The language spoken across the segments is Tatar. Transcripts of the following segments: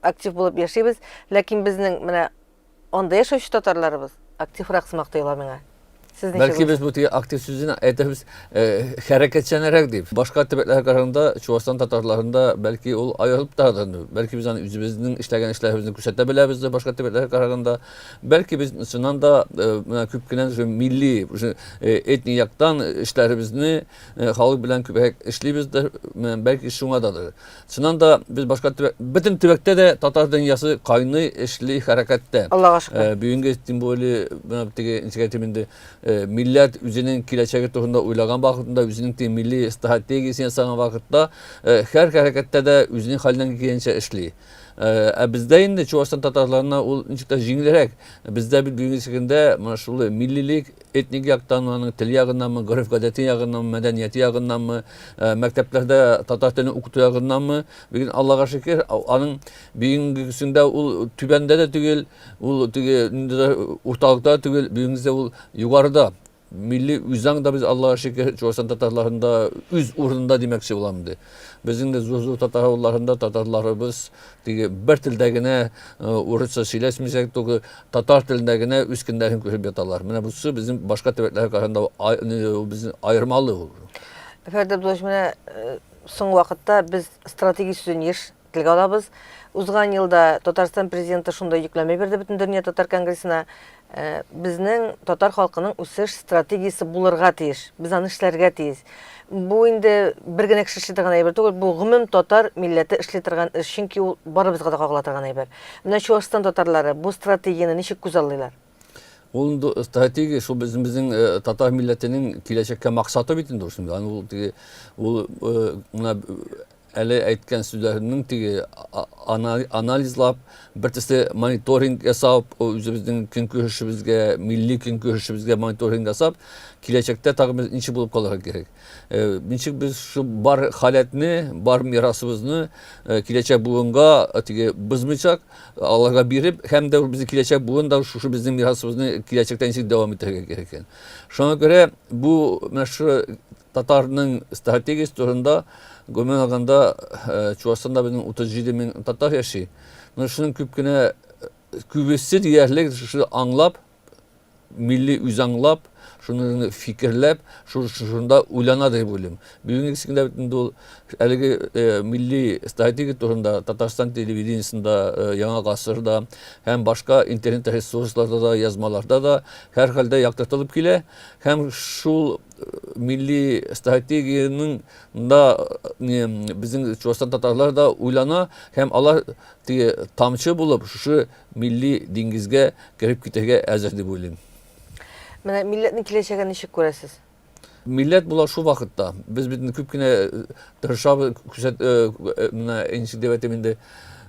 Актив булып яшибез, ләкин безнең менә анда яшәүче татарларыбыз активрак сымак тоела миңа. Сез ничек? Бәлки без бу теге актив сүзен әйтәбез, э, хәрәкәтчәнрәк дип. Башка төбәкләргә караганда Чувашстан татарларында бәлки ул аерылып торады. Бәлки без аны үзебезнең эшләгән эшләребезне күрсәтә беләбез дә башка төбәкләргә караганда. Бәлки без чыннан да э, менә күп кенә уже милли, уже э, этник яктан эшләребезне э, халык белән күбрәк эшлибез дә, менә бәлки шуңададыр. Чыннан да без башка төбәк, бөтен төбәктә дә татар дөньясы кайный, эшли, хәрәкәттә. Аллага шөкер. Э, бүгенге тем более менә теге ничек әйтим инде, э, милләт үзенең киләчәге турында уйлаган вакытында, үзенең теге милли стратегиясен ясаган вакытта, э, һәр хәрәкәттә дә үзенең хәленнән килгәнчә эшли. Э, ә бездә инде Чувашстан татарларына ул ничек тә җиңелрәк. Бездә бит бүгенге көндә менә шул миллилек Этник яктан, аның теле ягыннанмы, гореф-гадәте ягыннанмы, мәдәнияте ягыннанмы, мәктәпләрдә татар телен укыту ягыннанмы, ләкин Аллага шөкер, аның бүгенгесендә ул түбәндә дә түгел, ул теге инде дә урталыкта да түгел, бүгенгесендә ул югарыда. Милли үзаң да без Аллага шөкер, Чуашстан татарларында үз урынында димәкче булам инде. Безнең дә зур-зур татар авылларында татарларыбыз Теге бер телдә генә урысча сөйләшмичәк, только татар телендә генә үз көндәрен күреп яталар. Менә бусы безнең башка төбәкләргә караганда безнең аермалы ул. Фәрит Абдуллович, менә соң вакытта без стратегия сүзен еш телгә алабыз. Узган елда Татарстан президенты шунда йөкләмә бирде бөтен дөнья татар конгрессына. Э, безнең татар халкының үсеш стратегиясе булырга тиеш. Без аны эшләргә тиеш. Бу инде бер генә кеше эшли торган әйбер түгел, бу гомум татар милләте эшли торган эш, чөнки ул барыбызга да кагыла торган әйбер. Менә Чуашстан татарлары бу стратегияне ничек күзаллыйлар? Ул инде стратегия шул безнең безнең э, татар милләтенең киләчәккә максаты бит инде шул. Ул ул э, менә Әле әйткән сүзләремнең теге анализлап, бер төсле мониторинг ясап, үзебезнең көнкүрешебезгә, милли көнкүрешебезгә мониторинг ясап, киләчәктә тагы без ничек булып калырга кирәк? Э, ничек без шу бар халәтне, бар мирасыбызны э, киләчәк буынга э, теге бозмыйчак, аларга биреп, һәм дә безнең киләчәк буын да шушы безнең мирасыбызны киләчәктә ничек дәвам итәргә кирәк икән. Шуңа күрә бу менә шу Татарның стратегиясе турында, гомумән алганда, Чувашстанда безнең 37 мең татар яши. Менә шуның күп кенә күбесе диярлек шуны аңлап, милли үз аңлап, шуны фикерләп, шунда уйлана дип уйлыйм. Бүгенге көндә бит инде ул әлеге милли стратегия турында Татарстан телевидениесендә, Яңа гасырда һәм башка интернет ресурсларда да, язмаларда да һәрхәлдә яктыртылып килә һәм шул милли стратегиянең да безнең Чувашстан татарлар да уйлана һәм алар теге тамчы булып шушы милли диңгезгә кереп китәргә әзер дип уйлыйм. Менә милләтнең киләчәген ничек күрәсез? Милләт була шул вакытта. Без бит күп кенә тырышабыз, күрсәт менә инше дип әйтәм инде.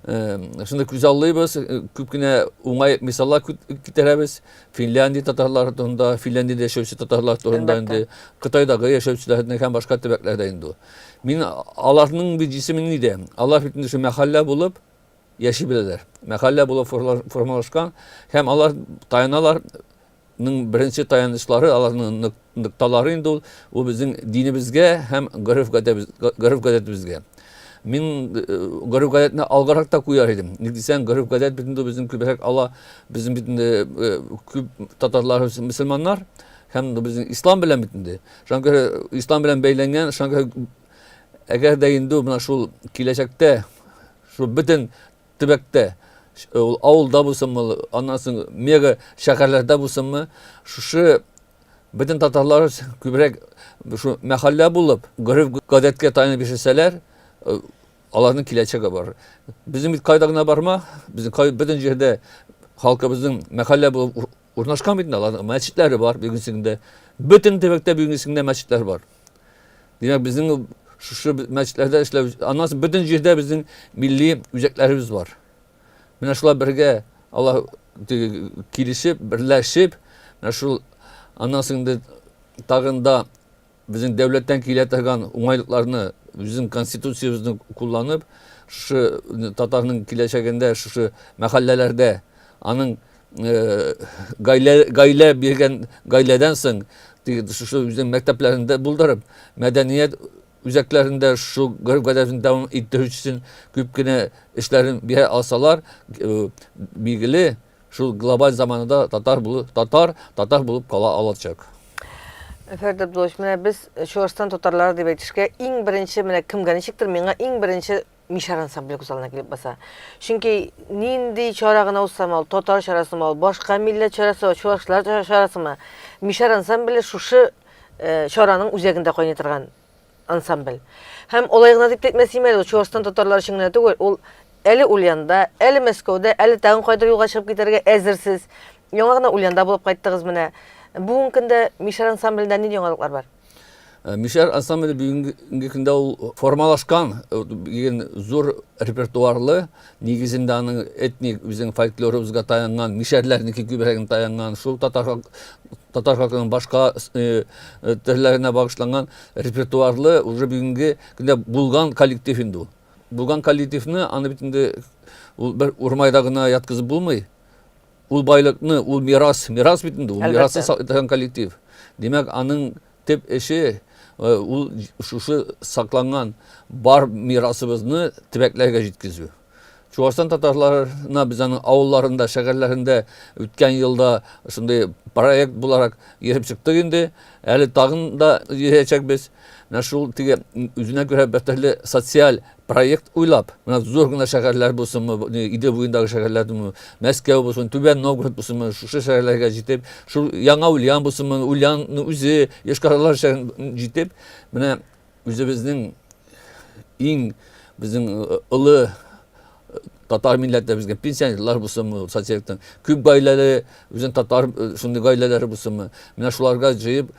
Шуны күзаллыйбыз, күп кенә уңай мисаллар китерәбез. Финляндия татарлары турында, Финляндиядә яшәүче татарлар турында инде, Кытайдагы яшәүчеләрне һәм башка төбәкләрдә инде. Мин аларның бит исеме ни дә? Алар бит инде мәхәллә булып яши беләләр. Мәхәллә булып формалашкан һәм алар таяналарның беренче таянычлары аларның нокталары инде ул, ул безнең динебезгә һәм гореф-гадәтебезгә. Мин гореф-гадәтне алгарак та куяр идем. Ник дисәң, гореф-гадәт бит инде безнең күбрәк ала, безнең бит инде күп татарларыбыз мөселманнар һәм безнең ислам белән бит инде. Шуңа күрә ислам белән бәйләнгән, шуңа күрә әгәр дә инде менә шул киләчәктә шул бөтен төбәктә ул авылда булсынмы, аннан соң мега шәһәрләрдә булсынмы, шушы Бөтен татарлар күбрәк шу мәхәллә булып, гореф-гадәткә таянып яшәсәләр, э, аларның киләчәге бар. Безнең бит кайда гына барма, безнең кай бөтен җирдә халкыбызның мәхәллә булып урнашкан бит инде аларның мәчетләре бар бүгенсендә. Бөтен төбәктә бүгенсендә мәчетләр бар. Димәк, безнең шушы мәчетләрдә эшләү, аннан соң бөтен җирдә безнең милли үзәкләребез бар. Менә шулай бергә Аллаһ килешеп, берләшеп, менә шул аннан соң инде тагын да безнең дәүләттән килә торган уңайлыкларны безнең конституциябезне кулланып, шушы татарның киләчәгендә шушы мәхәлләләрдә аның гаилә гаилә биргән гаиләдән соң шушы үзенең мәктәпләрендә булдырып, мәдәният Үзәкләрендә шу гореф-гадәтен дәвам иттерү өчен күп кенә эшләрен бирә алсалар, билгеле, шул глобаль заманада татар булу, татар, татар булып кала алачак. Фәрит Абдуллович, менә без Чуашстан татарлары дип әйтешкә, иң беренче, менә кемгә ничектер, миңа иң беренче Мишар ансамбле күз алдына килеп баса. Чөнки нинди чара гына узсам ул, татар чарасымы ул, башка милләт чарасы, чуашлар чарасымы, Мишар ансамбле шушы э, чараның үзәгендә кайный торган ансамбль. Һәм алай гына дип әйтмәс имә ул Чуашстан татарлары өчен генә түгел, ул әле Ульянда, әле Мәскәүдә, әле тагын кайдыр юлга чыгып китәргә әзерсез. Яңа гына Ульянда булып кайттыгыз менә. Бүгенге көндә Мишар ансамблендә нинди яңалыклар бар? Э, Мишәр ансамбле бүгенге көндә ул формалашкан э, дигән зур репертуарлы, нигезендә аның этник үзенең фольклорыбызга таянган, мишәрләрнеке күбрәген таянган, шул татар татар халкының башка э, төрләренә багышланган репертуарлы уже бүгенге көндә булган коллектив инде ул. Булган коллективны аны бит инде ул бер урмайда гына яткызып булмый. Ул байлыкны, ул мирас, мирас бит инде, ул мирасны саклый коллектив. Димәк, аның төп эше э, ул шушы сакланган бар мирасыбызны төбәкләргә җиткезү. Чуашстан татарларына без аның авылларында, шәһәрләрендә үткән елда шундый проект буларак йөреп чыктык инде. Әле тагын да йөрәчәкбез. Менә шул теге үзенә күрә бер төрле социаль проект уйлап, менә зур гына шәһәрләр булсынмы, Идел буендагы шәһәрләр булсынмы, Мәскәү булсын, Түбән Новгород булсынмы, шушы шәһәрләргә җитеп, шул Яңа Ульян булсынмы, Ульянның үзе, Йошкар-Ола шәһәрен җитеп, менә үзебезнең иң безнең э, олы э, татар милләте безгә пенсионерлар булсынмы, социалистның күп гаиләле үзен татар э, шундый гаиләләре булсынмы, менә шуларга җыеп,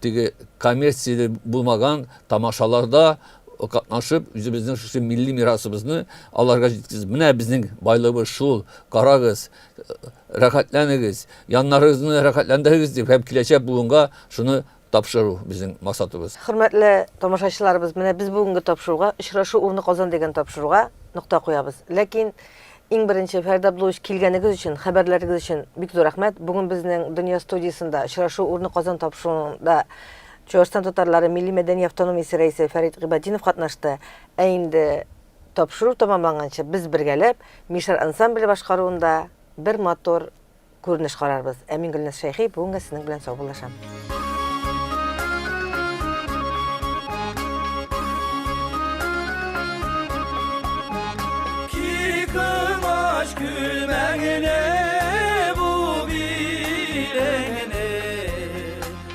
теге коммерцияле булмаган тамашаларда катнашып, үзебезнең шушы милли мирасыбызны аларга җиткердек. Менә безнең байлыгыбыз шул, карагыз, рәхәтләнегез, яннарыгызны рәхәтләндерегез дип һәм киләчәк буынга шуны тапшыру безнең максатыбыз. Хөрмәтле тамашачыларыбыз, менә без бүгенге тапшыруга, Очрашу урыны Казан дигән тапшыруга нокта куябыз. Ләкин иң беренче, Фәрит Абдуллович, килгәнегез өчен, хәбәрләрегез өчен бик зур рәхмәт. Бүген безнең Дөнья студиясендә Очрашу урыны Казан тапшыруында Чуашстан татарлары милли-мәдәни автономиясе рәисе Фәрит Гыйбатдинов катнашты, ә инде тапшыру тәмамланганчы без бергәләп Мишәр ансамбле башкаруында бер матур күренеш карарбыз. Ә мин Гөлназ Шәйхи бүгенгә сезнең белән саубуллашам.